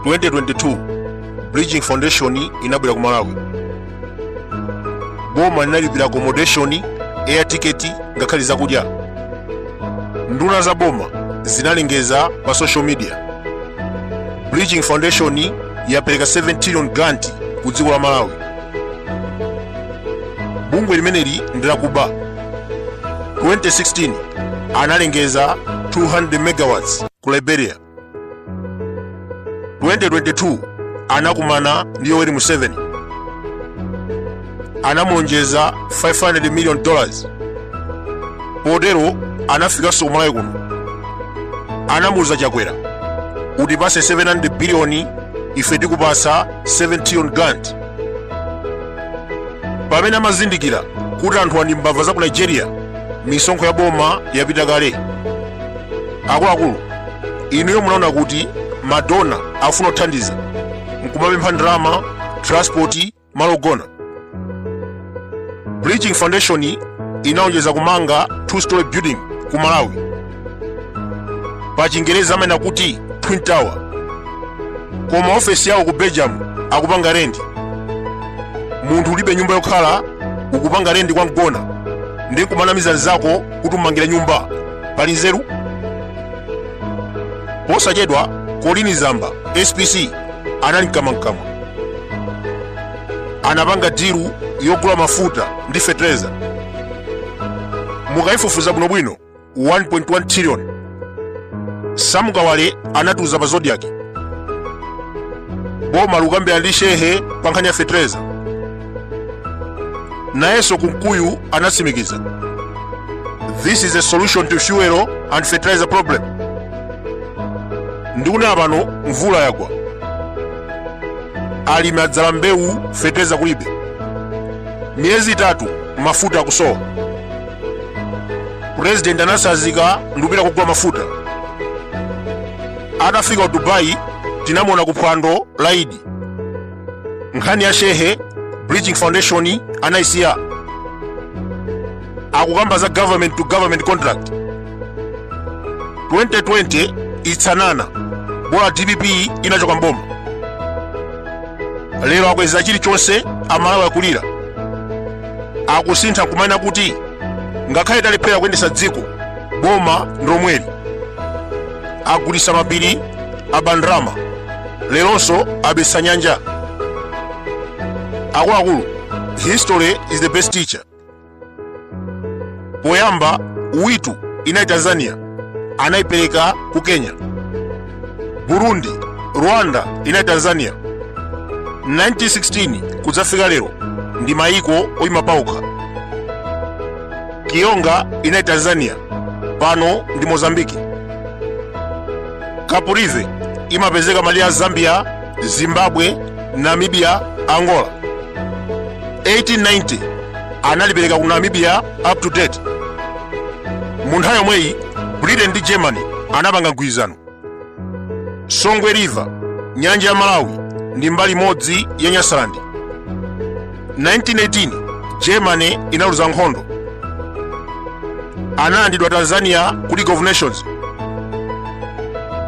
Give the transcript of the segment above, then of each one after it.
2022 bridging foundation inabwera ku malawi boma linalipira accommodation air ticket ngakhale zakudya nduna za boma zinalengeza pa social media bridging foundation yapereka 7 trillion grant ku dziko la malawi bungwe limeneli ndilakuba 2016 analengeza 200 megawatts ku liberia 2022 anakumana ndi yoweri museveni anamulonjeza 500 million dollars potero anafikanso kumalawi kuno anamuuza chakwera utipase 700 biliyoni ife tikupasa 7 trillion grant pamene amazindikira kuti anthu ndi mbava za ku nigeria misonkho ya boma yapita kale akuluakulu inuyo munaona kuti madonor afuna kuthandiza nkumapempha ndalama transport malo ogona bridging foundation inalonjeza kumanga two story building ku malawi pa chingerezi amanena kuti twin tower koma ofesi yawo ku belgium akupanga rendi munthu ulibe nyumba yokhala ukupanga rendi kwa mgona ndi kumanamiza nzako kuti umangira nyumba pali nzeru posachedwa colleen zamba spc anali mkamwamkamwa anapanga dilu yogula mafuta ndi fetereza mukayifufuza bwinobwino 1.1 trillion sam kawale anatiuza pa zodiak boma lukambirana ndi shehe pa nkhani ya fetereza nayenso kunkuyu anatsimikiza this is a solution to fuel and fertilizer problem ndikunena pano mvula yagwa alimi adzala mbewu fertilizer kulibe miyezi itatu mafuta akusowa president anasazika ndikupita kugula mafuta atafika ku dubai tinamuona ku phwando la idi nkhani ya shehe bridging foundation anaisiya akukamba za government to government contract 2020 itsanana bola dpp inachoka mboma lero akweza chilichonse amalawi akulira akusintha kumanena kuti ngakhale talephera kuyendesa dziko boma ndilomweli agulisa mapiri abandrama leronso abisa nyanja akuluakulu history is the best teacher poyamba witu inali tanzania anayipereka ku kenya burundi rwanda inali tanzania 1916 kudzafika lero ndi mayiko oyima paokha kiyonga inali tanzania pano ndi mozambiki kaprivi imapezeka malire a zambia zimbabwe namibia angola 1890 analipereka ku namibia up to date mu nthawi yomweyi britain ndi germany anapanga mgwirizano songwe river nyanja ya malawi ndi mbali imodzi ya nyasalandi 1918 germany inaluza nkhondo analandidwa tanzania ku league of nations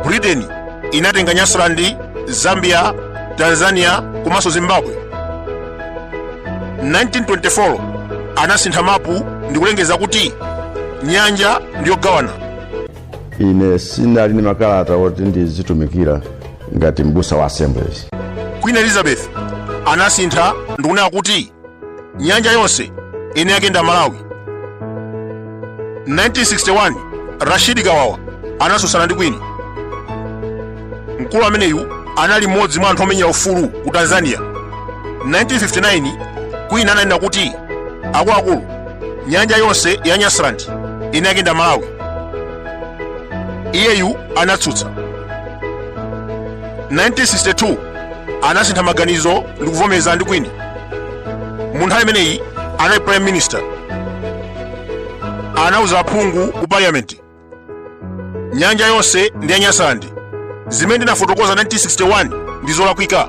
britain inatenga nyasaland zambia tanzania komanso zimbabwe 1924 anasintha mapu ndikulengeza kuti nyanja ndiyogawana ine sinali ndi makalata oti ndizitumikira ngati m'busa wa assemblies queen elizabeth anasintha ndikunena kuti nyanja yonse mwini wake ndi malawi 1961 rashidi kawawa anatsutsana ndi queen mkulu ameneyu anali mmodzi mwa anthu omenyera ufulu ku tanzania 1959 queen ananena kuti akuluakulu nyanja yonse ya nyasaland mwini wake ndi malawi iyeyu anatsutsa 1962 anasintha maganizo ndi kuvomeza ndi queen mu nthawi imeneyi anali prime minister anauza aphungu ku parliament nyanja yonse ndi ya nyasaland zimene ndinafotokoza 1961 ndi zolakwika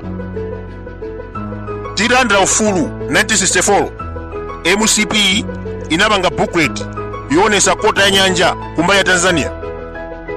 titalandira ufulu 1964 mcp inapanga booklet yoonesa kota ya nyanja kumbali ya tanzania